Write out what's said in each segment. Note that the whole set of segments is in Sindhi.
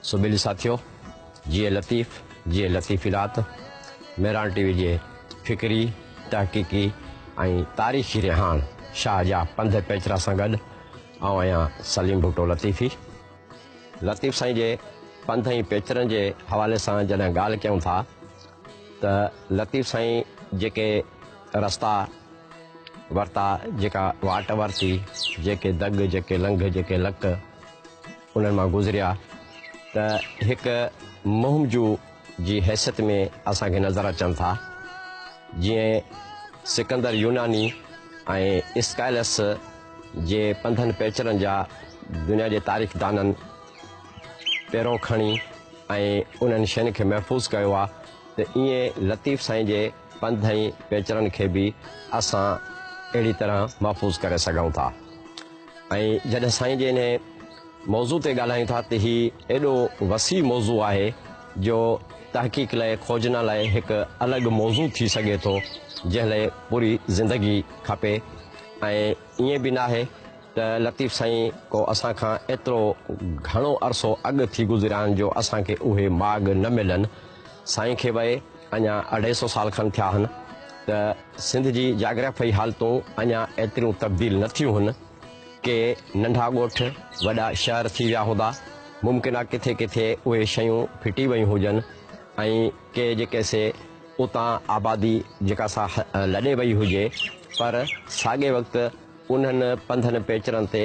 سبيلي ساٿيو، جيئي لطيف، جيئي لطيفي رات، مهراڻ ٽي وي جي فڪري، تحقيقي ۽ تاريخي رهاڻ شاهه جا پنڌ پيچرا سان گڏ آئون آهيان سليم ڀٽو لطيفي. لطيف سائين جي پنڌ ۽ پيچرن جي حوالي سان جڏهن ڳالهه ڪيون ٿا ته لطيف سائين جيڪي رستا ورتا، جيڪا واٽ ورتي، جيڪي دڳ، جيڪي لنگهه، جيڪي لڪ، انهن مان گذريا ته هڪ مهم جو جي حيثيت ۾ اسان کي نظر اچن ٿا جيئن سڪندر يوناني ۽ اسڪائلس جي پنڌن پيچرن جا دنيا جي تاريخ دانن پيرو کڻي ۽ انهن شين کي محفوظ ڪيو آ ته ايئن لطيف سائين جي پنڌ ۽ پيچرن کي به اسان اهڙي طرح محفوظ ڪري سگهون ٿا. ۽ جڏهن سائين جي انهي موضوع تي ڳالهايون ٿا ته هي ايڏو وسيع موضوع آهي جو تحقيق لئه کوجنا لئه هڪ الڳ موضوع ٿي سگهي ٿو جنهن لئه پوري زندگي کپي ۽ ائين به ناهي ته لطيف سائين ڪو اسان کان ايترو گهڻو عرصو اڳ ٿي گذريا آهن جو اسان کي اهي ماڳ نه ملن سائين کي بئ اڃا اڍائي سئو سال کن ٿيا هن ته سنڌ جي جاگرافيائي حالتون اڃا ايتريون تبديل نه ٿيون هن. ڪي ننڍا ڳوٺ وڏا شهر ٿي ويا هوندا. ممڪن آ ڪٿي ڪٿي اهي شيون ڦٽي ويون هجن ۽ ڪي جيڪي سي اتان آبادي جيڪا سا لڏي وئي هجي پر ساڳي وقت انهن پنڌن پيچرن تي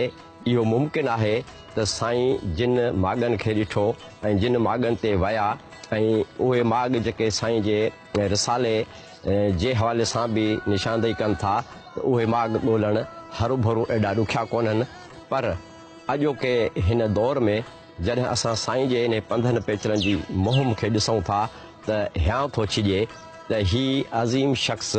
اهو ممڪن آهي ته سائين جن ماڳن کي ڏٺو ۽ جن ماڳن تي ويا ۽ اهي ماڳ جيڪي سائين جي رسالي جي حوالي سان به نشاندهي ڪن ٿا ته اهي ماڳ ڳولڻ هروڀرو ايڏا ڏکيا ڪونهن پر اڄوڪي هن دور ۾ جڏهن اسان سائين جي انهي پنڌن پيچرن جي مهم کي ڏسون ٿا ته هيانء ٿو ڇڄي ته هي عظيم شخص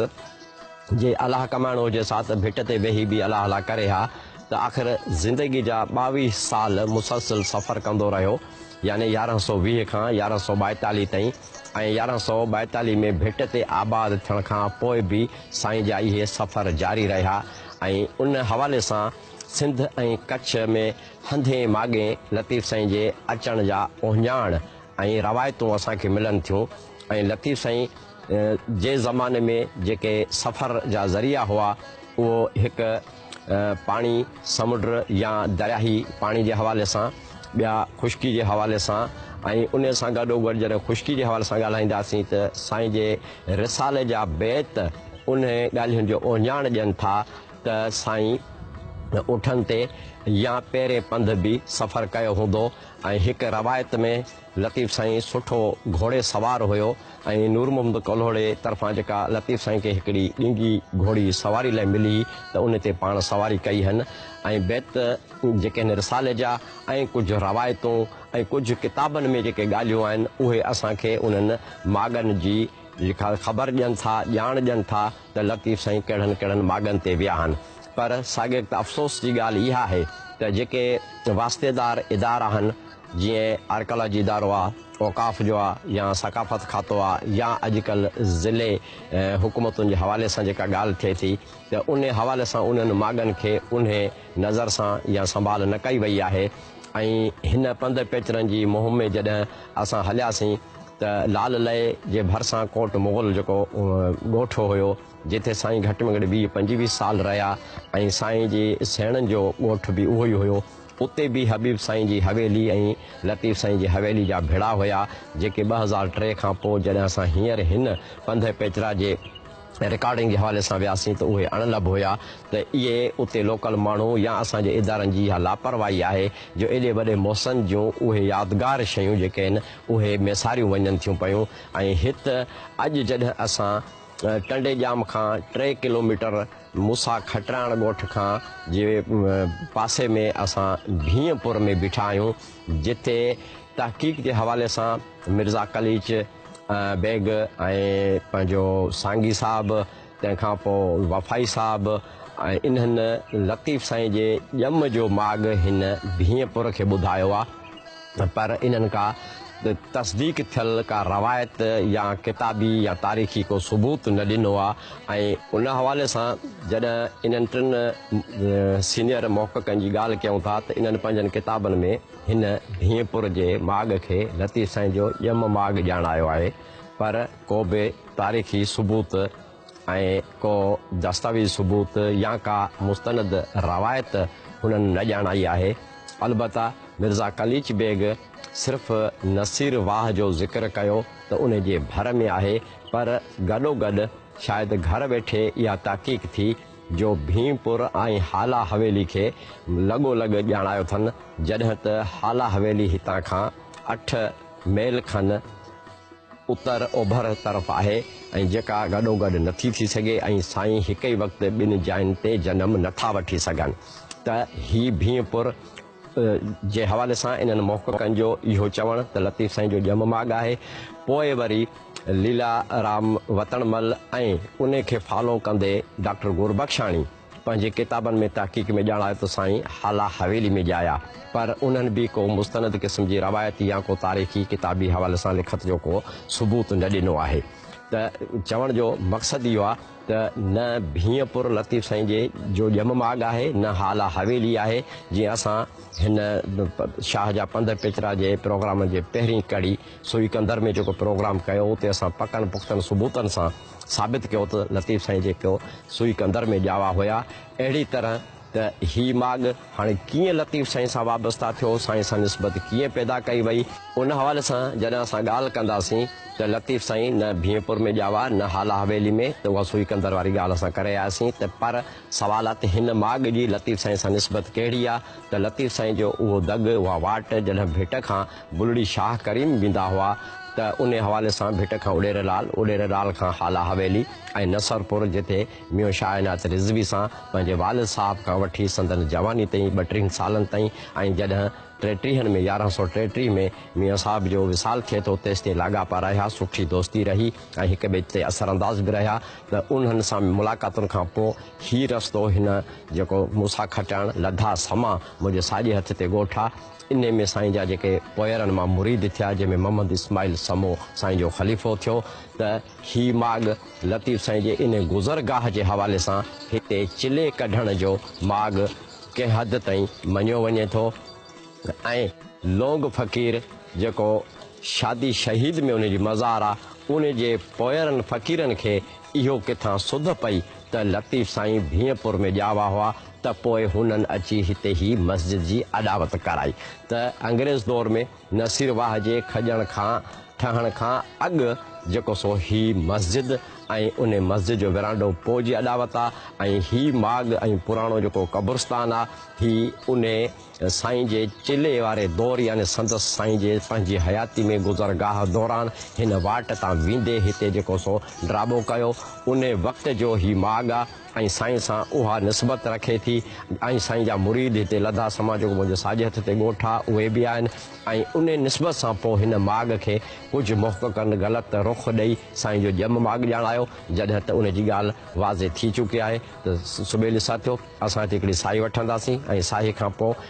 جي الاهه ڪمائڻو هجي سا ته ڀٽ تي ويهي به الاهه لا ڪري ها ته آخر زندگي جا ٻاويهه سال مسلسل سفر ڪندو رهيو يعني يارهن سؤ ويهه کان يارهن سؤ ٻائيتاليهه تائين ۽ يارهن سؤ ٻائيتاليهه ۾ ڀٽ تي آباد ٿيڻ کان پوء به سائين جا اهي سفر جاري رهيا ۽ ان حوالي سان سنڌ ۽ ڪڇ ۾ هنڌين ماڳين لطيف سائين جي اچڻ جا اهڃاڻ ۽ روايتون اسان کي ملن ٿيون ۽ لطيف سائين جي زماني ۾ جيڪي سفر جا ذريعا هئا اهو هڪ پاڻي سمنڊ يا درياهي پاڻي جي حوالي سان ٻيا خشڪي جي حوالي سان ۽ ان سان گڏو گڏ جڏهن خشڪي جي حوالي سان ڳالهائينداسين ته سائين جي رسالي جا بيت انهن ڳالهين جو اهڃاڻ ڏين ٿا ته سائين اٺن تي يا پيرين پنڌ به سفر ڪيو هوندو ۽ هڪ روايت ۾ لطيف سائين سٺو گهوڙي سوار هيو ۽ نور محمد ڪلهوڙي طرفان جيڪا لطيف سائين کي هڪڙي ڏينگهي گهوڙي سواري لاء ملي ته ان تي پاڻ سواري ڪئي هن ۽ بيت جيڪي هن رسالي جا ۽ ڪجهه روايتون ۽ ڪجهه ڪتابن ۾ جيڪي ڳالهيون آهن اهي اسان کي انهن ماڳن جي خبر ڏين ٿا ڄاڻ ڏين ٿا. ته لطيف سائين ڪهڙن ڪهڙن ماڳن تي ويا آهن پر ساڳيڪ ته افسوس جي ڳالهه اها آهي ته جيڪي واسطيدار ادارا آهن جيئن آرڪالاجي ادارو آ، اوقاف جو آ يا ثقافت کاتو آ يا اڄڪلهه ضلعي حڪومتن جي حوالي سان جيڪا ڳالهه ٿئي ٿي ته انهي حوالي سان انهن ماڳن کي انهي نظر سان يا سنڀال نه ڪئي وئي آهي ۽ هن پنڌ پيچرن جي مهم ۾ جڏهن اسان هلياسين ته لال لئي جي ڀرسان ڪوٽ مغل جيڪو ڳوٺ هيو جتي سائين گهٽ ۾ گهٽ ويهه پنجويهه سال رهيا ۽ سائين جي سيڻن جو ڳوٺ به اهو ئي هيو اتي به حبيب سائين جي حويلي ۽ لطيف سائين جي حويلي جا ڀڙا هيا جيڪي ٻه هزار ٽي کان پوء جڏهن اسان هينئر هن پنڌ پيچرا جي رڪارڊنگ جي حوالي سان وياسين ته اهي اڻ لڀ هيا ته اهي اتي لوڪل ماڻهو يا اسان جي ادارن جي اها لاپرواهي آهي جو ايڏي وڏي محسن جون اهي يادگار شيون جيڪي آهن اهي ميساريون وڃن ٿيون پيون ۽ هت اڄ جڏهن اسان ٽنڊي ڄام کان ٽي ڪلوميٽر موسيٰ کٽراڻ ڳوٺ کان جي پاسي ۾ اسان ڀينء پور ۾ بيٺا آهيون جتي تحقيق جي حوالي سان مرزا قليچ بيگ ۽ پنهنجو سانگي صاحب تنهن کان پوء وفائي صاحب ۽ انهن لطيف سائين جي ڄم جو ماڳ هن ڀينء پور کي ٻڌايو آ پر انهن ڪا تصديق ٿيل ڪا روايت يا ڪتابي يا تاريخي ڪو ثبوت نه ڏنو آ ۽ ان حوالي سان جڏهن انهن ٽن سينيئر محققن جي ڳالهه ڪيون ٿا ته انهن پنهنجن ڪتابن ۾ هن ڀينء پور جي ماڳ کي لطيف سائين جو ڄم ماڳ ڄاڻايو آهي، پر ڪوبه تاريخي ثبوت ۽ ڪو دستاويزي ثبوت يا ڪا مستند روايت هنن نه ڄاڻائي آهي. البته مرزا قليچ بيگ صرف نصير واهه جو ذڪر ڪيو ته ان جي ڀر ۾ آهي، پر گڏوگڏ شايد گهر ويٺي اها تحقيق ٿي جو ڀيم پور ۽ هالا حويلي کي لڳو لڳ ڄاڻايو اٿن، جڏهن ته هالا حويلي هتان کان اٺ ميل کن اتر اوڀر طرف آهي ۽ جيڪا گڏوگڏ نٿي ٿي سگهي ۽ سائين هڪ ئي وقت ٻن جاين تي جنم نٿا وٺي سگهن ته هي ڀيم پور جي حوالي سان انهن محققن جو اهو چوڻ ته لطيف سائين جو ڄم ماڳ آهي پوء وري ليلا رام وتڻ مل ۽ انهي کي فالو ڪندي ڊاڪٽر گوربخشاڻي پنهنجي ڪتابن ۾ تحقيق ۾ ڄاڻايو ته سائين هالا حويلي ۾ ڄايا پر انهن به ڪو مستند قسم جي روايتي يا ڪو تاريخي ڪتابي حوالي سان لکت جو ڪو ثبوت نه ڏنو آهي ته چوڻ جو مقصد اهو آهي ته نه ڀينء پور لطيف سائين جي جو ڄم ماڳ آهي نه هالا حويلي آهي جيئن اسان هن شاهه جا پنڌ پچرا جي پروگرامن جي پهرين ڪڙي سوئيڪندر ۾ جيڪو پروگرام ڪيو اتي اسان پڪن پختن ثبوتن سان ثابت ڪيو ته لطيف سائين جيڪو سوئيڪندر ۾ ڄاوا هيا اهڙي طرح ته هي ماڳ هاڻي ڪيئن لطيف سائين سان وابسته ٿيو، سائين سان نسبت ڪيئن پيدا ڪئي وئي، ان حوالي سان جڏهن اسان ڳالهه ڪنداسين ته لطيف سائين نه ڀينپور ۾ ڄاوا نه هالا حويلي ۾ ته اها سوئي قندر واري ڳالهه اسان ڪري آياسين ته پر سوال آهي ته هن ماڳ جي لطيف سائين سان نسبت ڪهڙي آهي ته لطيف سائين جو اهو دڳ اها واٽ جڏهن ڀٽ کان بلڙي شاهه ڪريم ويندا هئا ته انهي حوالي سان ڀٽ کان اڏيرلال اڏيرلال کان هالا حويلي ۽ نصرپور جتي ميون شاهه عنايت رضوي سان پنهنجي والد صاحب کان وٺي سندن جواني تائين ٻٽيهن سالن تائين ۽ جڏهن ٽيٽيهن ۾ يارهن سؤ ٽيٽيهه ۾ ميون صاحب جو وصال ٿئي ٿو تيستائين لاڳاپا رهيا سٺي دوستي رهي ۽ هڪ ٻئي تي اثرانداز به رهيا ته انهن سان ملاقاتن کان پوء هي رستو هن جيڪو مون سان کٽائڻ لڌا سما منهنجي ساڄي هٿ تي ڳوٺا انهي ۾ سائين جا جيڪي پوئرن مان مريد ٿيا جنهن ۾ محمد اسماعيل سمو سائين جو خليفو ٿيو ته هي ماڳ لطيف سائين جي ان گذرگاهه جي حوالي سان هتي چلي ڪڍڻ جو ماڳ ڪنهن حد تائين مڃيو وڃي ٿو ۽ لونگ فقير جيڪو شادي شهيد ۾ ان جي مزار آ ان جي پوئرن فقيرن کي اهو ڪٿان سڌ پئي ته لطيف سائين ڀينء پور ۾ ڄاوا هئا ته پوء هنن اچي هتي هي مسجد جي اڏاوت ڪرائي ته انگريز دور ۾ نصير واهه جي کڄڻ کان ٺهڻ کان اڳ جيڪو سو هي مسجد ۽ ان مسجد جو ورانڊو پوء جي اڏاوت آ ۽ هي ماڳ ۽ پراڻو جيڪو قبرستان آ هي ان سائين جي چلي واري دور يعني سندس سائين جي پنهنجي حياتي ۾ گذرگاهه دوران هن واٽ تان ويندي هتي جيڪو سو ڊرابو ڪيو ان وقت جو هي ماڳ آ. ۽ سائين سان اها نسبت رکي ٿي ۽ سائين جا مريد هتي لڌا سما جيڪو منهنجي ساڄي هٿ تي ڳوٺ آ اهي به آهن ۽ انهي نسبت سان پوء هن ماڳ کي ڪجهه محققن غلط رخ ڏئي سائين جو ڄم ماڳ ڄاڻايو جڏهن ته ان جي ڳالهه واضح ٿي چڪي آهي ته سٻيلي ساٿيو اسان هتي هڪڙي ساهي وٺنداسين ۽ ساهي کان پوء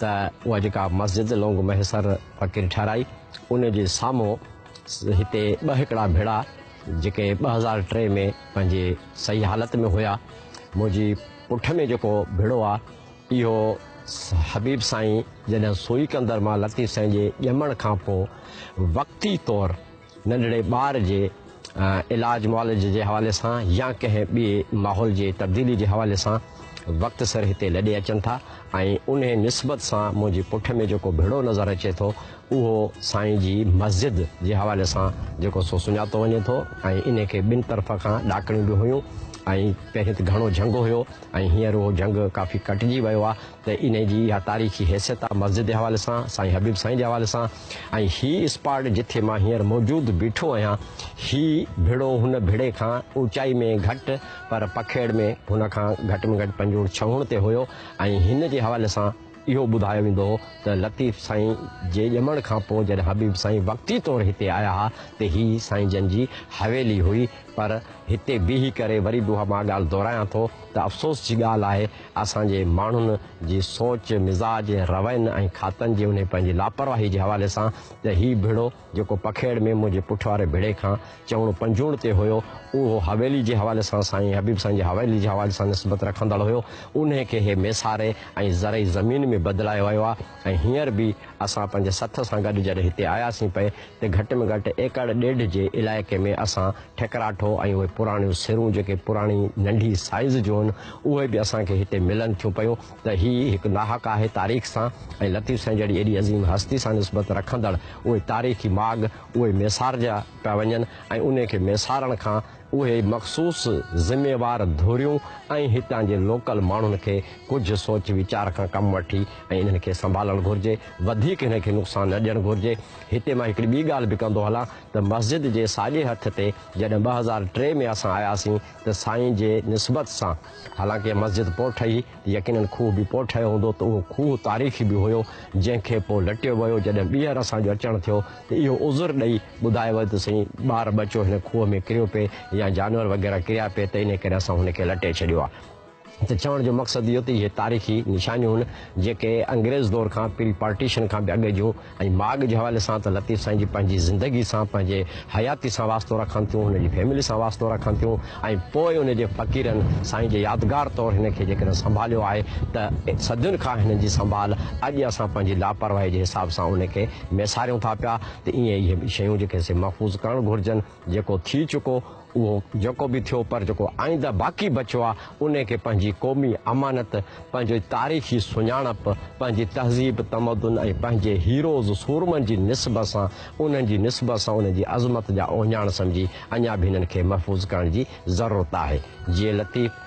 ته اها جيڪا مسجد لونگ مهيسر فقير ٺهرائي ان جي سامهون هتي ٻه هڪڙا ڀيڙا جيڪي ٻه هزار ٽي ۾ پنهنجي صحيح حالت ۾ هيا منهنجي پٺ ۾ جيڪو ڀيڙو آهي اهو حبيب سائين جڏهن سوئي ڪندر مان لطيف سائين جي ڄمڻ کان پوء وقتي طور ننڍڙي ٻار جي علاج معالج جي حوالي سان يا ڪنهن ٻئي ماحول جي تبديلي جي حوالي سان وقت سر هتي لڏي اچن ٿا ۽ انهي نسبت سان منهنجي پٺ ۾ جيڪو ڀڙو نظر اچي ٿو اهو سائين جي مسجد جي حوالي سان جيڪو سو سڃاتو وڃي ٿو ۽ انهي کي ٻن طرف کان ڏاڪڻيون به هيون ۽ پهرين ته گهڻو جهنگ هيو ۽ هينئر اهو جهنگ ڪافي ڪٽجي ويو آهي ته انهي جي اها تاريخي حيثيت آ مسجد جي حوالي سان، سائين حبيب سائين جي حوالي سان ۽ هي اسپاٽ جٿي مان هينئر موجود بيٺو آهيان هي ڀڙو هن ڀڙي کان اوچائي ۾ گهٽ پر پکيڙ ۾ هن کان گهٽ ۾ گهٽ پنجوڻ ڇهوڻ تي هيو ۽ هن جي حوالي سان اهو ٻڌايو ويندو هو ته لطيف سائين جي ڄمڻ کان پوء جڏهن حبيب سائين وقتي طور هتي آيا ها ته هي سائين جن جي حويلي هئي پر هتي بيهي ڪري وري به اها مان ڳالهه دهرايان ٿو ته افسوس جي ڳالهه آهي اسان جي ماڻهن جي سوچ، مزاج، روين ۽ کاتن جي انهي پنهنجي لاپرواهي جي حوالي سان ته هي ڀڙو جيڪو پکيڙ ۾ منهنجي پٺ واري ڀڙي کان چوڻ پنجوڻ تي هيو اهو حويلي جي حوالي سان سائين حبيب سائين جي حويلي جي حوالي سان نسبت رکندڙ هيو انهي کي هي ميساري ۽ زرعي زمين ۾ بدلايو ويو آهي. ۽ هينئر به اسان پنهنجي سٿ سان گڏ جڏهن هتي آياسين پئي ته گهٽ ۾ گهٽ ايڪڙ ڏيڍ جي علائقي ۾ اسان ٺڪراٺو ۽ اهي پراڻيون سرون جيڪي پراڻي ننڍي سائيز جون هن اهي به اسان کي هتي ملن ٿيون پيون ته هي هڪ ناحق آهي تاريخ سان ۽ لطيف سائين جهڙي ايڏي عظيم هستي سان نسبت رکندڙ اهي تاريخي ماڳ اهي ميسارجا پيا وڃن ۽ انهي کي ميسارڻ کان اهي مخصوص ذميوار ڌريون ۽ هتان جي لوڪل ماڻهن کي ڪجهه سوچ ويچار کان ڪم وٺي ۽ انهن کي سنڀالڻ گهرجي، وڌيڪ هن کي نقصان نه ڏيڻ گهرجي. هتي مان هڪڙي ٻي ڳالهه به ڪندو هلان ته مسجد جي ساڄي هٿ تي جڏهن ٻه هزار ٽي ۾ اسان آياسين ته سائين جي نسبت سان حالانڪه مسجد پوء ٺهي، يقينن کوهه به پوء ٺهيو هوندو ته اهو کوهه تاريخي به هيو جنهن کي پوء لٽيو ويو جڏهن ٻيهر اسان جو اچڻ ٿيو ته اهو عذر ڏئي ٻڌايو ويو ته سائين ٻار ٻچو هن کوهه ۾ ڪريو پئي يا جانور وغيره ڪريا پئي ته انهي ڪري اسان هن کي لٽي ڇڏيو آهي. ته چوڻ جو مقصد اهو ته اهي تاريخي نشانيون هن جيڪي انگريز دور کان پري پارٽيشن کان به اڳ جون ۽ ماڳ جي حوالي سان ته لطيف سائين جي پنهنجي زندگي سان پنهنجي حياتي سان واسطو رکن ٿيون هن جي فيملي سان واسطو رکن ٿيون ۽ پوء ان جي فقيرن سائين جي يادگار طور هن کي جيڪڏهن سنڀاليو آهي ته صدين کان هنن جي سنڀال اڄ اسان پنهنجي لاپرواهي جي حساب سان ان کي ميساريون ٿا پيا ته ايئن اهي شيون جيڪي سي محفوظ ڪرڻ گهرجن جيڪو ٿي چڪو اهو جيڪو به ٿيو پر جيڪو آئنده باقي بچيو آهي انهي کي پنهنجي قومي امانت، پنهنجي تاريخي سڃاڻپ، پنهنجي تهذيب تمدن ۽ پنهنجي هيروز سورمن جي نسب سان انهن جي نسب سان انهن جي عظمت جا اوهڃاڻ سمجهي اڃا به انهن کي محفوظ ڪرڻ جي ضرورت آهي. جيئي لطيف.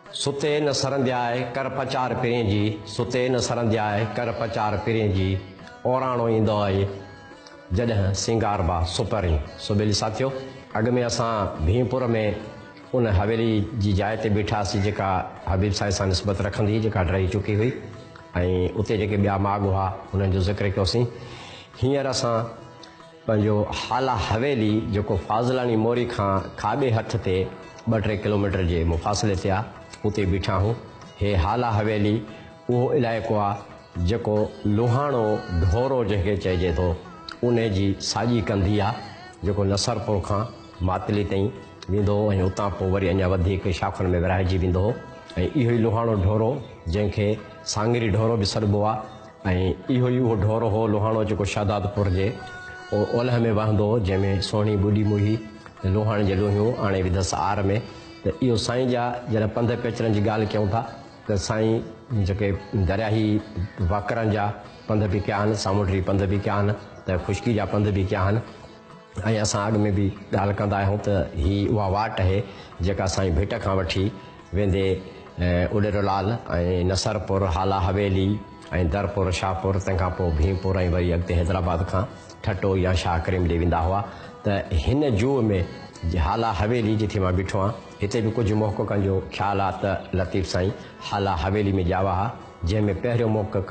ستي نه سرندياء ڪر پچار پرين جي، ستي نه سرندياء ڪر پچار پرين جي، اوراڻو ايندو آهي جڏهن سينگاربا سپرين. سو ٻيلي ساٿيو اڳ ۾ اسان ڀيم پور ۾ ان حويلي جي جاء تي بيٺاسي جيڪا حبيب سائين سان نسبت رکندي هئي جيڪا ڊهي چڪي هئي ۽ اتي جيڪي ٻيا ماڳ هئا انهن جو ذڪر ڪيوسين هينئر اسان پنهنجو هالا حويلي جيڪو فاضلاڻي موري کان کاٻي هٿ تي ٻه ٽي ڪلوميٽر جي مفاصلي تي آ اتي بيٺا هون. هي هالا حويلي اهو علائقو آ جيڪو لوهاڻو ڍورو جنهن کي چئجي ٿو انهي جي ساڄي ڪنڌي آ جيڪو نصرپور کان ماتلي تائين ويندو هو ۽ اتان پوء وري اڃا وڌيڪ شاخن ۾ ورهائجي ويندو هو ۽ اهو ئي لوهاڻو ڍورو جنهن کي سانگري ڍورو به سڏبو آ ۽ اهو ئي اهو ڍور هو لوهاڻو جيڪو شهدادپور جي اولهه ۾ وهندو هو جنهن ۾ سهڻي ٻڏي موهي ته لوهاڻي جي لوهيون آڻي وڌس آر ۾ ته اهو سائين جا جڏهن پنڌ پيچرن جي ڳالهه ڪيون ٿا ته سائين جيڪي درياهي واڪرن جا پنڌ به ڪيا آهن سامونڊري پنڌ به ڪيا آهن ته خشڪي جا پنڌ به ڪيا آهن ۽ اسان اڳ ۾ به ڳالهه ڪندا آهيون ته هي اها واٽ اهي جيڪا سائين ڀٽ کان وٺي ويندي اڏرولال ۽ نصرپور هالا حويلي ۽ درپور شاهپور تنهن کان پوء ڀيم پور ۽ وري اڳتي حيدرآباد کان ٺٽو يا شاهه ڪريم ڏي ويندا هئا ته هن جوء ۾ هالا حويلي جتي مان بيٺو آهيان هتي به ڪجهه محققن جو خيال آهي ته لطيف سائين هالا حويلي ۾ ڄاوا ها. جنهن ۾ پهريون محقق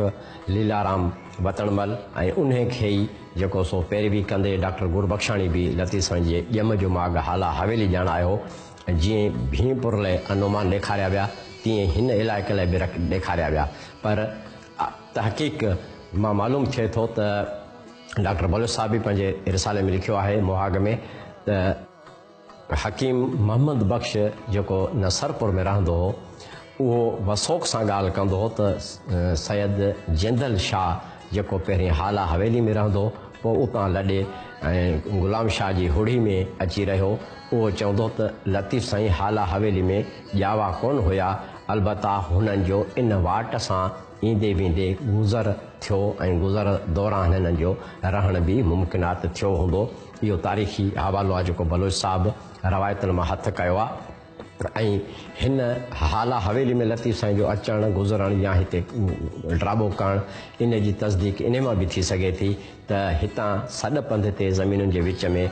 ليلارام وتڻمل ۽ انهي کي ئي جيڪو سو پيروي ڪندي ڊاڪٽر گربخشاڻي به لطيف سائين جي ڄم جو ماڳ هالا حويلي ڄاڻ آيو ۽ جيئن ڀين پور لئه انومان ڏيکاريا ويا تيئن هن علائقي لئه به ڏيکاريا ويا پر تحقيق مان معلوم ٿئي ٿو ته ڊاڪٽر بلوچ صاحب به پنهنجي رسالي ۾ لکيو آهي مهاڳ ۾ ته حڪيم محمد بخش جيڪو نصرپور ۾ رهندو هو اهو وثوق سان ڳالهه ڪندو هو ته سيد جندل شاهه جيڪو پهرين هالا حويلي ۾ رهندو پوء اتان لڏي ۽ غلام شاهه جي هڙهي ۾ اچي رهيو اهو چوندو ته لطيف سائين هالا حويلي ۾ ڄاوا ڪونه هيا البته هنن جو ان واٽ سان ايندي ويندي گذر ٿيو ۽ گذر دوران هنن جو رهڻ به ممڪنات ٿيو هوندو اهو تاريخي حوالو آهي جيڪو بلوچ صاحب روايتن مان هٿ ڪيو آهي ۽ هن هالا حويلي ۾ لطيف سائين جو اچڻ گذرڻ يا هتي ڊرابو ڪرڻ ان جي تصديق ان مان به ٿي سگهي ٿي ته هتان سڏ پنڌ تي زمينن جي وچ ۾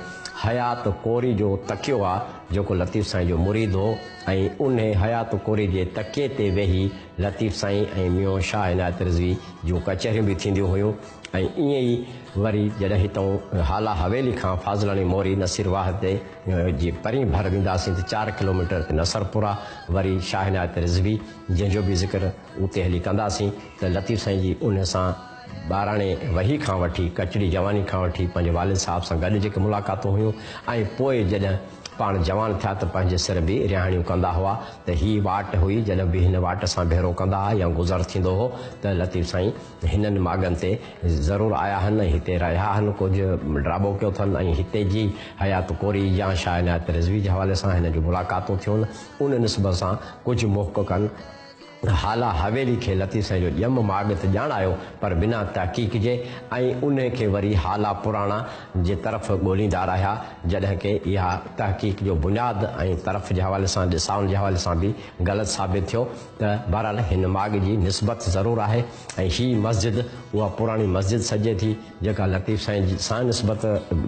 حيات ڪوري جو تڪيو آهي جيڪو لطيف سائين جو مريد هو ۽ انهي حيات ڪوري جي تڪيي تي ويهي لطيف سائين ۽ ميون شاهه عنايت رضوي جون ڪچهريون به ٿينديون هيون ۽ ائين ئي وري جڏهن هتئون هالا حويلي کان فاضلاڻي موري نصير واحد تي جي پرين ڀر وينداسين ته چار ڪلوميٽر تي نصرپورا وري شاهه عنايت رضوي جنهن جو به ذڪر اتي هلي ڪنداسين ته لطيف سائين جي انهن سان ٻاراڻي وهي کان وٺي ڪچڙي جواني کان وٺي پنهنجي والد صاحب سان گڏ جيڪي ملاقاتون هيون ۽ پوء جڏهن پاڻ جوان ٿيا ته پنهنجي سر به رهاڻيون ڪندا هئا ته هي واٽ هئي جڏهن به هن واٽ سان ڀيرو ڪندا هئا يا گذر ٿيندو هو ته لطيف سائين هنن ماڳن تي ضرور آيا هن، هتي رهيا هن، ڪجهه ڊرابو ڪيو ٿن ۽ هتي جي حيات ڪوري يا شاهه عنايت رضوي جي حوالي سان هن جون ملاقاتون ٿيون، ان نسبت سان ڪجهه محققن هالا حويلي کي لطيف سائين جو ڄم ماڳ ته ڄاڻايو پر بنا تحقيق جي ۽ انهي کي وري هالا پراڻا جي طرف ڳوليندا رهيا، جڏهن ڪي اها تحقيق جو بنياد ۽ طرف جي حوالي سان ڏسائن جي حوالي سان به غلط ثابت ٿيو. ته بهرحال هن ماڳ جي نسبت ضرور آهي ۽ هي مسجد اها پراڻي مسجد سڏجي ٿي، جيڪا لطيف سائين جي سان نسبت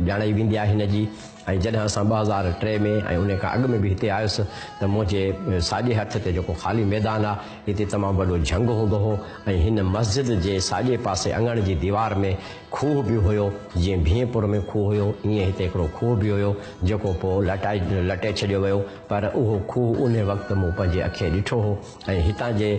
ڄاڻائي ويندي آهي هن جي ۽ جڏهن اسان ٻه هزار ٽي ۾ ۽ انهي کان اڳ ۾ به هتي آيس ته منهنجي ساڄي هٿ تي جيڪو خالي ميدان آ هتي تمام وڏو جهنگ هوندو هو ۽ هن مسجد جي ساڄي پاسي اڱڻ جي ديوار ۾ کوهه به هيو جيئن ڀينء پور ۾ کوهه هيو ايئن هتي هڪڙو کوهه به هيو جيڪو پوء لٽائي لٽي ڇڏيو ويو پر اهو کوهه انهي وقت مون پنهنجي اکين ڏٺو هو ۽ هتان جي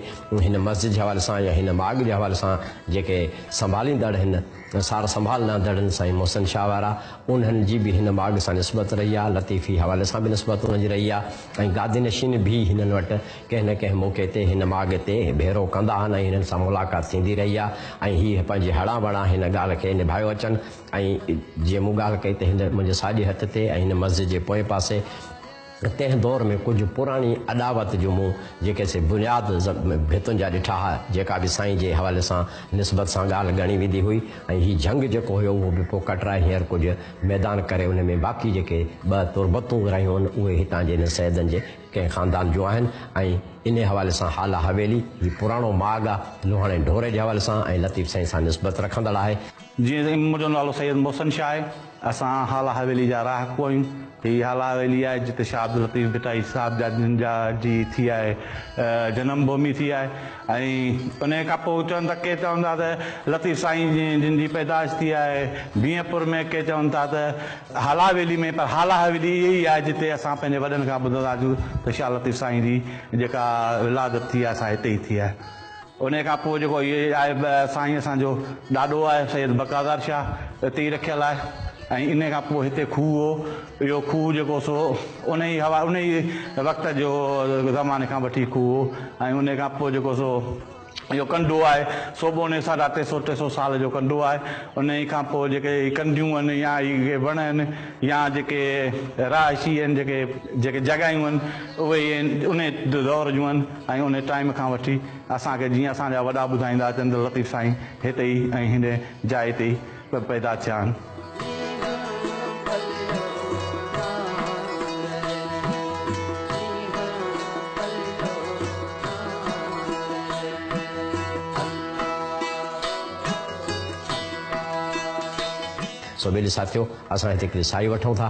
هن مسجد جي حوالي سان يا هن ماڳ جي حوالي سان جيڪي سنڀاليندڙ هن سار سنڀال لهندڙن سائين محسن شاهه وارا انهن جي به هن ماڳ سان نسبت رهي آ لطيفي حوالي سان به نسبت انهن جي رهي آ ۽ گادي نشين به هنن وٽ ڪنهن نه ڪنهن موقعي تي هن ماڳ تي ڀيرو ڪندا آهن ۽ هنن سان ملاقات ٿيندي رهي آ ۽ هي پنهنجي هڙان وڙان هن ڳالهه کي نڀايو اچن ۽ جيئن مون ڳالهه ڪئي ته هن منهنجي ساڄي هٿ تي ۽ هن مسجد جي پوئين پاسي تنهن دور ۾ ڪجهه پراڻي اڏاوت جو مون جيڪي سي بنياد ڀتن جا ڏٺا ها جيڪا به سائين جي حوالي سان نسبت سان ڳالهه ڳڻي ويندي هئي ۽ هي جهنگ جيڪو هيو اهو به پوء ڪٽرائي هينئر ڪجهه ميدان ڪري ان ۾ باقي جيڪي ٻه تربتون رهيون آهن اهي هتان جي هن سيدن جي ڪنهن خاندان جون آهن ۽ انهي حوالي سان هالا حويلي هي پراڻو ماڳ آهي لوهاڻي ڍوري جي حوالي سان ۽ لطيف سائين سان نسبت رکندڙ آهي. جيئن ته ام جو نالو سيد محسن شاهه آهي. اسان هالا حويلي جا رهاڪو آهيون. هي هالا حويلي آهي جتي شاهه عبداللطيف ڀٽائي صاحب جا جن جا جي ٿي آهي جنم ڀومي ٿي آهي ۽ انهي کان پوء چون ته ڪي چون ٿا ته لطيف سائين جن جي پيدائش ٿي آهي بينهه پور ۾ ڪي چون ٿا ته هالا حويلي ۾ پر هالا حويلي اهي ئي آهي جتي اسان پنهنجي وڏن کان ٻڌندا آهيون ته شاهه لطيف سائين جي جيڪا ولادت ٿي آهي سا هتي ئي ٿي آهي. انهيء کان پوء جيڪو هيء آهي سائين اسان جو ڏاڏو آهي سيد بقاضار شاهه اتي ئي رکيل آهي ۽ انهيء کان پوء هتي کوهه هو اهو کوهه جيڪو سو انهيء هوا انهيء وقت جو زماني کان وٺي کوهه هو ۽ انهيء کان پوء جيڪو سو اهو ڪنڊو آهي سو به انهيء ساڍا ٽي سو ٽي سو سال جو ڪنڊو آهي انهيء کان پوء جيڪي هي ڪنڊيون آهن يا هي وڻ آهن يا جيڪي رهائشي آهن جيڪي جيڪي جڳهيون آهن اهي انهيء دور جون آهن ۽ انهي ٽائيم کان وٺي اسان کي جيئن اسان جا وڏا ٻڌائيندا اچن ته لطيف سائين هتي ئي ۽ هن جاء تي ئي پيدا ٿيا آهن. سو ميلي ساٿيو اسان هتي هڪڙي ساهي وٺون ٿا.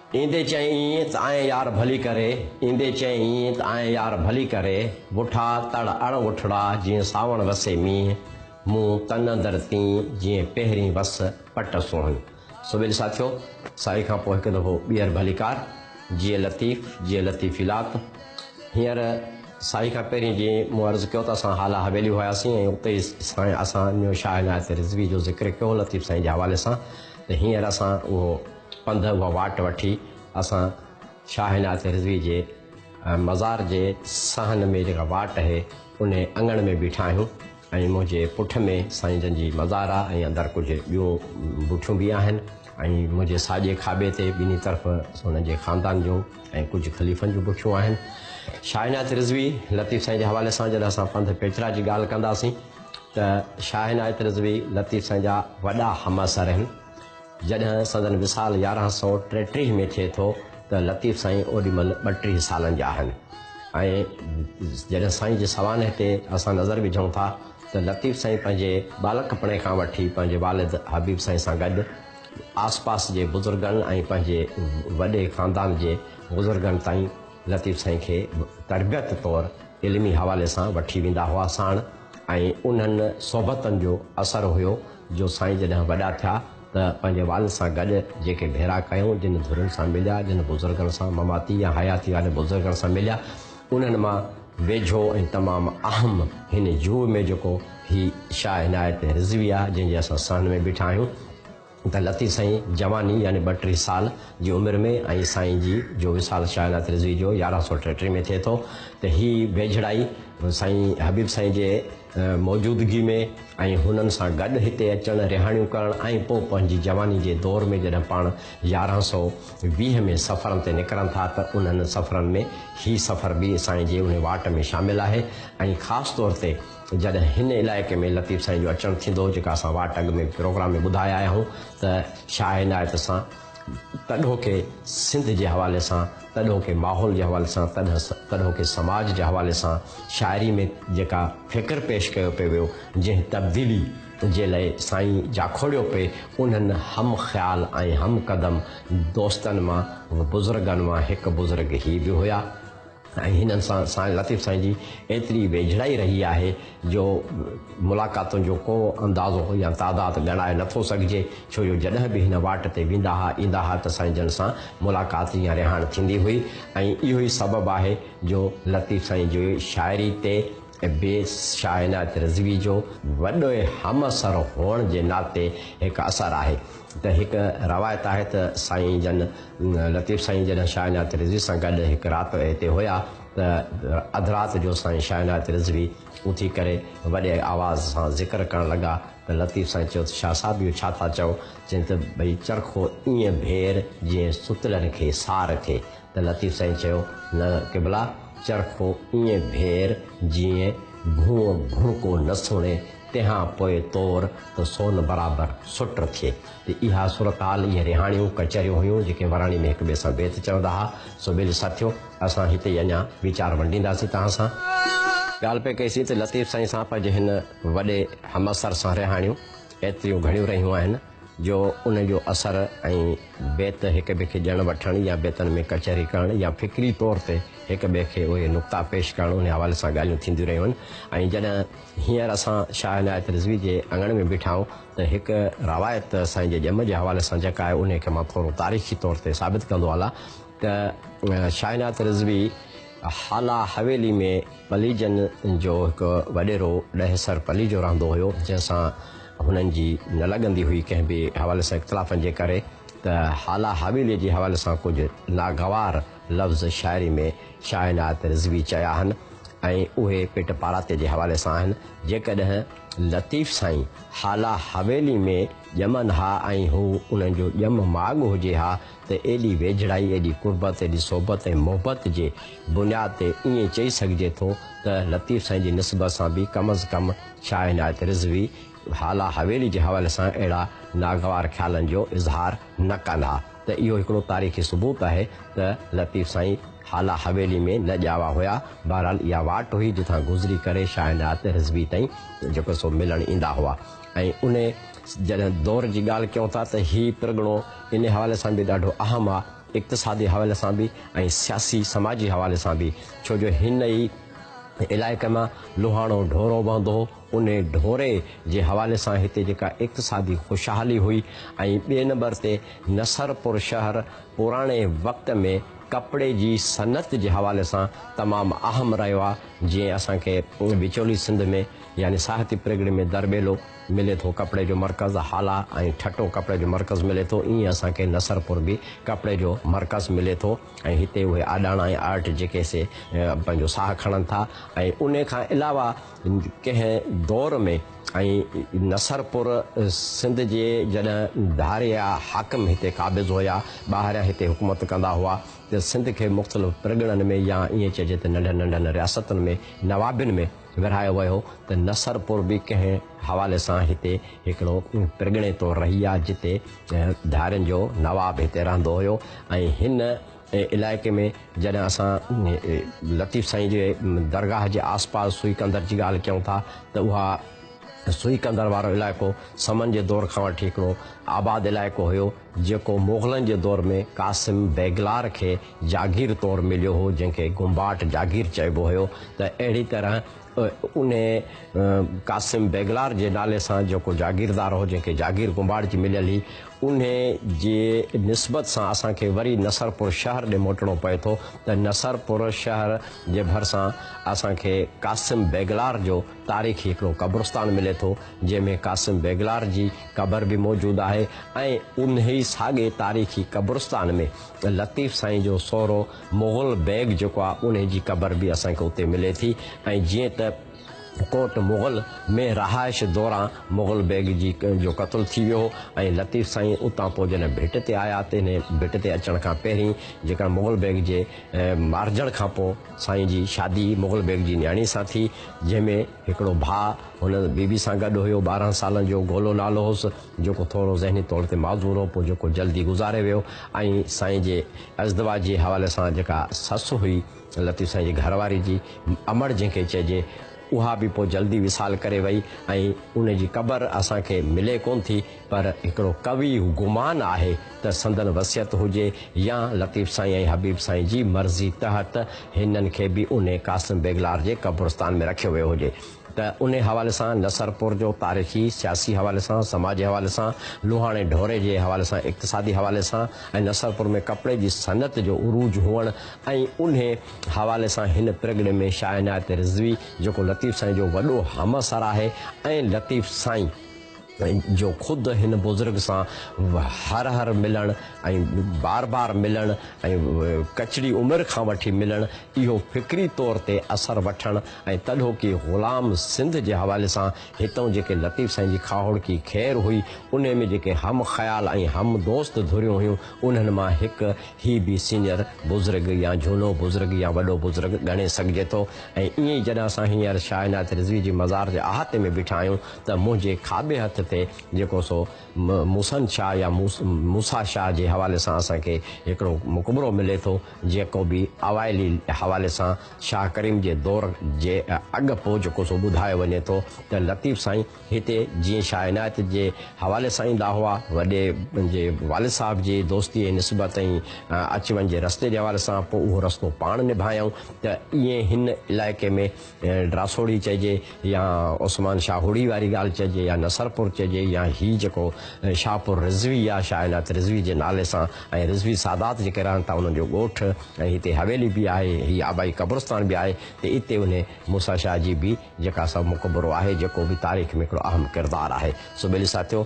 ايندي چيائين ته آئين يار ڀلي ڪري، ايندي چيائين ته آئين يار ڀلي ڪري، وٺا تڙ اڙ وٺڙا جيئن ساوڻ وسي مينهن، مون تن اندر تين جيئن پهرين وس پٽ سونهن. سو ويل ساٿيو سائي کان پوء هڪ دفعو ٻيهر ڀلي ڪار، جيئي لطيف جيئي لطيفي لات. هينئر سائي کان پهرين جيئن مون عرض ڪيو ته اسان هالا حويلي هياسين ۽ اتي ئي سائين اسان نيو شاهه عنايت رضوي جو ذڪر ڪيو هو لطيف سائين جي حوالي سان ته هينئر اسان اهو پنڌ اها واٽ وٺي اسان شاهه عنايت رضوي جي مزار جي صحن ۾ جيڪا واٽ اهي انهي اڱڻ ۾ بيٺا آهيون ۽ منهنجي پٺ ۾ سائين جن جي مزار آهي ۽ اندر ڪجهه ٻيو بوٺيون به آهن ۽ منهنجي ساڄي کاٻي تي ٻنهي طرف انهن جي خاندان جو ۽ ڪجهه خليفن جون بوٺيون آهن شاهه عنايت رضوي لطيف سائين جي حوالي سان جڏهن اسان پنڌ پيچرا جي ڳالهه ڪنداسين ته شاهه عنايت رضوي لطيف سائين جا وڏا همعصر آهن جڏهن سندن وصال يارهن سؤ ٽيٽيهه ۾ ٿئي ٿو ته لطيف سائين اوڏي مهل ٻٽيهه سالن جا آهن ۽ جڏهن سائين جي سوانح تي اسان نظر وجهون ٿا ته لطيف سائين پنهنجي ٻالڪپڻي کان وٺي پنهنجي والد حبيب سائين سان گڏ آسپاس جي بزرگن ۽ پنهنجي وڏي خاندان جي بزرگن تائين لطيف سائين کي به تربيت طور علمي حوالي سان وٺي ويندا هئا ساڻ ۽ انهن صحبتن جو اثر هيو جو سائين جڏهن وڏا ٿيا ته پنهنجي والد سان گڏ جيڪي ڀيرا ڪيائون جن ڌرين سان مليا جن بزرگن سان مماتي يا حياتي وارن بزرگن سان مليا انهن مان ويجهو ۽ تمام اهم هن جوء ۾ جيڪو هي شاهه عنايت رضوي آهي جنهن جي اسان صحن ۾ بيٺا آهيون ته لطيف سائين جواني يعني ٻه ٽي سال جي عمر ۾ ۽ سائين جي جو وصال شاهه عنايت رضوي جو يارهن سؤ ٽيٽيهه ۾ ٿئي ٿو ته هي ويجهڙائي سائين حبيب سائين جي موجودگي ۾ ۽ هنن سان گڏ هتي اچڻ رهاڻيون ڪرڻ ۽ پوء پنهنجي جواني جي دور ۾ جڏهن پاڻ يارهن سؤ ويهه ۾ سفرن تي نڪرن ٿا ته انهن سفرن ۾ هي سفر به سائين جي انهي واٽ ۾ شامل آهي ۽ خاص طور تي جڏهن هن علائقي ۾ لطيف سائين جو اچڻ ٿيندو هو جيڪا اسان واٽ اڳ ۾ پروگرام ۾ ٻڌائي آيا آهيون ته شاهه عنايت سان تڏهوڪي سنڌ جي حوالي سان تڏهوڪي ماحول جي حوالي سان تڏهوڪي سماج جي حوالي سان شاعري ۾ جيڪا فڪر پيش ڪيو پئي ويو جنهن تبديلي جي لئي سائين جاکوڙيو پئي انهن هم خيال ۽ هم قدم دوستن مان بزرگن مان هڪ بزرگ هي به هيا. ۽ هنن سان سائين لطيف سائين جي ايتري ويجهڙائي رهي آهي جو ملاقاتن جو ڪو اندازو يا تعداد ڳڻائي نه ٿو سگهجي ڇو جو جڏهن به هن واٽ تي ويندا ها ايندا ها ته سائين جن سان ملاقات يا رهاڻ ٿيندي هئي ۽ اهو ئي سبب آهي جو لطيف سائين جي شاعري تي بي شاهعنايت رضوي جو وڏي همعصر هئڻ جي ناتي هڪ اثر آهي ته هڪ روايت آهي ته سائين جن لطيف سائين جڏهن شاهه عنايت رضوي سان گڏ هڪ رات هتي هيا ته اڌ رات جو سائين شاهه عنايت رضوي اٿي ڪري وڏي آواز سان ذڪر ڪرڻ لڳا ته لطيف سائين چيو ته شاهه صاحب اهو ڇا ٿا چئو؟ چيائين ته ڀئي چرخو ائين ڀير جيئن ستلن کي سار ٿئي. ته لطيف سائين چيو، نه قبلا، چرخو ائين ڀير جيئن ڀونء ڀونڪو نه سڻي، تنهان پوء تور ته سون برابر سٽ ٿئي. ته اها صورتحال، اهي رهاڻيون، ڪچهريون هيون، جيڪي وراڻي ۾ هڪ ٻئي سان بيت چوندا ها، سو ويلي ساٿيو، اسان هتي ئي اڃا ويچار ونڊينداسين توهان سان. ڳالهه پئي ڪئي سين ته لطيف سائين سان پنهنجي هن وڏي همعصر سان رهاڻيون ايتريون گهڻيون رهيون آهن، جو ان جو اثر ۽ بيت هڪ ٻئي کي ڄڻ وٺڻ يا بيتن ۾ ڪچهري ڪرڻ يا فڪري طور تي هڪ ٻئي کي اهي نقطا پيش ڪرڻ ان حوالي سان ڳالهيون ٿينديون رهيون آهن ۽ جڏهن هينئر اسان شاهه عنايت رضوي جي اڱڻ ۾ بيٺا آهيون ته هڪ روايت سائين جي ڄم جي حوالي سان جيڪا آهي انهي کي مان ٿورو تاريخي طور تي ثابت ڪندو هلان ته شاهه عنايت رضوي هالا حويلي ۾ پليجن جو هڪ وڏيرو ڏهسر پليجو رهندو هيو جنهن سان هنن جي نه لڳندي هئي ڪنهن به حوالي سان اختلافن جي ڪري ته هالا حويليء جي حوالي سان ڪجهه ناگوار لفظ شاعري ۾ شاهه عنايت رضوي چيا آهن ۽ اهي پٽ پاراتي جي حوالي سان آهن جيڪڏهن لطيف سائين هالا حويلي ۾ ڄمن ها ۽ هو انهن جو ڄم ماڳ هجي ها ته ايڏي ويجهڙائي ايڏي قربت ايڏي صحبت ۽ محبت جي بنياد تي ائين چئي سگهجي ٿو ته لطيف سائين جي نسبت سان به ڪم از ڪم شاهه عنايت رضوي هالا حويلي جي حوالي سان اهڙا ناگوار خيالن جو اظهار نه ڪن ها ته اهو هڪڙو تاريخي ثبوت آهي ته لطيف سائين هالا حويلي ۾ نه ڄاوا هيا بهرحال اها واٽ هئي جتان گذري ڪري شاهه عنايت رضوي تائين جيڪو سو ملڻ ايندا هئا ۽ ان جڏهن دور جي ڳالهه ڪيون ٿا ته هي پرڳڻو ان حوالي سان به ڏاڍو اهم آهي اقتصادي حوالي سان به ۽ سياسي سماجي حوالي سان به ڇو جو هن ئي علائقي مان لوهاڻو ڍورو وهندو هو، انهي ڍوري جي حوالي سان هتي جيڪا اقتصادي خوشحالي هئي ۽ ٻئي نمبر تي نصرپور شهر پراڻي وقت ۾ ڪپڙي جي صنعت جي حوالي سان تمام اهم رهيو آهي جيئن اسان کي وچولي سنڌ ۾ يعني ساهتي پرڳڻي ۾ درٻيلو ملي ٿو ڪپڙي جو مرڪز هالا ۽ ٺٽو ڪپڙي جو مرڪز ملي ٿو ائين اسان کي نصرپور به ڪپڙي جو مرڪز ملي ٿو ۽ هتي اهي آڏاڻا ۽ آرٽ جيڪي سي پنهنجو ساهه کڻن ٿا ۽ انهي کان علاوه ڪنهن دور ۾ ۽ نصرپور سنڌ جي جڏهن ڌاريا حاڪم هتي قابض هيا ٻاهريان هتي حڪومت ڪندا هئا ته سنڌ کي مختلف پرڳڻن ۾ يا ائين چئجي ته ننڍن ننڍن رياستن ۾ نوابين ۾ ورهايو ويو ته نصرپور به ڪنهن حوالي سان هتي هڪڙو پرڳڻي طور رهي آ جتي ڌارين جو نواب هتي رهندو هيو ۽ هن علائقي ۾ جڏهن اسان لطيف سائين جي درگاهه جي آس پاس سوئي قندر جي ڳالهه ڪيون ٿا ته اها سوئي قندر وارو علائقو سمن جي دور کان وٺي هڪڙو آباد علائقو هيو جيڪو مغلن جي دور ۾ قاسم بيگلار کي جاگير طور مليو هو، جنهن کي گنباٽ جاگير چئبو هيو، ته اهڙي طرح انهيء قاسم بيگلار جي نالي سان جيڪو جاگيردار هو، جنهن کي جاگير گنباٽ جي مليل هئي، انهيء جي نسبت سان اسان کي وري نصرپور شهر ڏي موٽڻو پئي ٿو، ته نصرپور شهر جي ڀرسان اسان کي قاسم بيگلار جو تاريخي هڪڙو قبرستان ملي ٿو، جنهن ۾ قاسم بيگلار جي قبر به موجود آهي ۽ انهي ساڳئي تاريخي قبرستان ۾ لطيف سائين جو سهرو مغل بيگ جيڪو آهي انهي جي قبر به اسان کي اتي ملي ٿي ۽ جيئن ته ڪوٽ مغل ۾ رهائش دوران مغل بيگ جي جو قتل ٿي ويو هو ۽ لطيف سائين اتان پوء جڏهن ڀٽ تي آيا ته انهي ڀٽ تي اچڻ کان پهرين جيڪا مغل بيگ جي مارجڻ کان پوء سائين جي شادي مغل بيگ جي نياڻي سان ٿي، جنهن ۾ هڪڙو ڀاء هن بي بي سان گڏ هيو، ٻارهن سالن جو گولو نالو هوس، جيڪو ٿورو ذهني طور تي معذور هو، پوء جيڪو جلدي گذاري ويو ۽ سائين جي ازدواج جي حوالي سان جيڪا سس هئي لطيف سائين جي گهر واري جي امڙ جنهن کي چئجي، اها به پوء جلدي وصال ڪري وئي ۽ ان جي قبر اسان کي ملي ڪونه ٿي، پر هڪڙو قوي گمان آهي ته سندن وصيت هجي يا لطيف سائين ۽ حبيب سائين جي مرضي تحت هنن کي به انهي قاسم بيگلار جي قبرستان ۾ رکيو ويو هجي ته انهي حوالي سان نصرپور جو تاريخي، سياسي حوالي سان، سماجي حوالي سان، لوهاڻي ڍوري جي حوالي سان، اقتصادي حوالي سان ۽ نصرپور ۾ ڪپڙي جي صنعت جو عروج هئڻ ۽ انهي حوالي سان هن پرڳڻي ۾ شاهعنايت رضوي جيڪو لطيف سائين جو وڏو همعصر آهي ۽ لطيف سائين جو خود هن بزرگ سان هر هر ملڻ ۽ بار بار ملڻ ۽ ڪچڙي عمر کان وٺي ملڻ اهو فڪري طور تي اثر وٺڻ ۽ تڏهوڪي غلام سنڌ جي حوالي سان هتئون جيڪي لطيف سائين جي کاهوڙڪي خير هئي انهي ۾ جيڪي هم خيال ۽ هم دوست ڌريون هيون انهن مان هڪ هي به سينئر بزرگ يا جهونو بزرگ يا وڏو بزرگ ڳڻي سگهجي ٿو ۽ ائين ئي جڏهن اسان هينئر شاهعنايت رضوي جي مزار جي احاطي ۾ بيٺا آهيون ته منهنجي کاٻي هٿ تي جيڪو سو موسن شاهه يا موسيٰ شاهه جي حوالي سان اسان کي هڪڙو مقبرو ملي ٿو جيڪو به اوائلي حوالي سان شاهه ڪريم جي دور جي اڳ پو جيڪو سو ٻڌايو وڃي ٿو ته لطيف سائين هتي جيئن شاهه عنايت جي حوالي سان ايندا هئا وڏي جي والد صاحب جي دوستي ۽ نسبت ۽ اچ وڃ جي رستي جي حوالي سان پو اهو رستو پاڻ نڀايائون ته ائين هن علائقي ۾ ڊراسوڙي چئجي يا عثمان شاهوڙي واري ڳالهه چئجي يا نصرپور چئجي يا هي جيڪو شاهپور رضوي يا شاهه عنايت رضوي جي نالي سان ۽ رضوي سادات جيڪي رهن ٿا انهن جو ڳوٺ ۽ هتي حويلي به آهي هي آبائي قبرستان به آهي ته اتي انهي موسيٰ شاهه جي به جيڪا سا مقبرو آهي جيڪو به تاريخ ۾ هڪڙو اهم ڪردار آهي سو ٻيلي ساٿيو